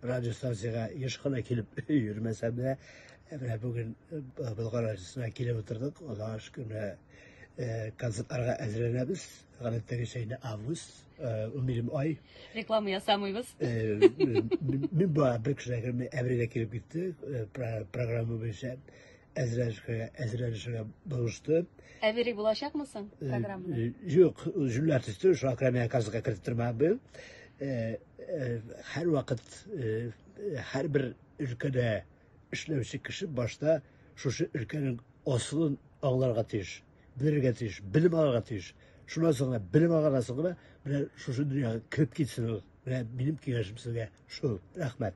радиостанциягә еш кына килеп йөрмәсәм дә, менә бүген Болгар радиосына килеп утырдык. Аллага шөкер, менә концертларга әзерләнәбез. Гадәттәгечә инде август, унберем ай. Реклама ясамыйбыз. Мин бу бер кешегә әбридә килеп китте, программа буенча. әзрәшкә, әзрәшкә булышты. Ә бери булачакмы соң э, программада? Э, юк, җүләр төште, шуңа күрә миңа казга кертеп тормам бел. Э, һәр вакыт һәр бер өлкәдә эшләүче кеше башта шушы өлкәнең асылын аңларга тиеш, белергә тиеш, белем алырга тиеш. Шуннан соң гына белем алганнан соң гына менә шушы дөньяга кереп китсен ул. Менә минем киңәшем сезгә шул. Рәхмәт.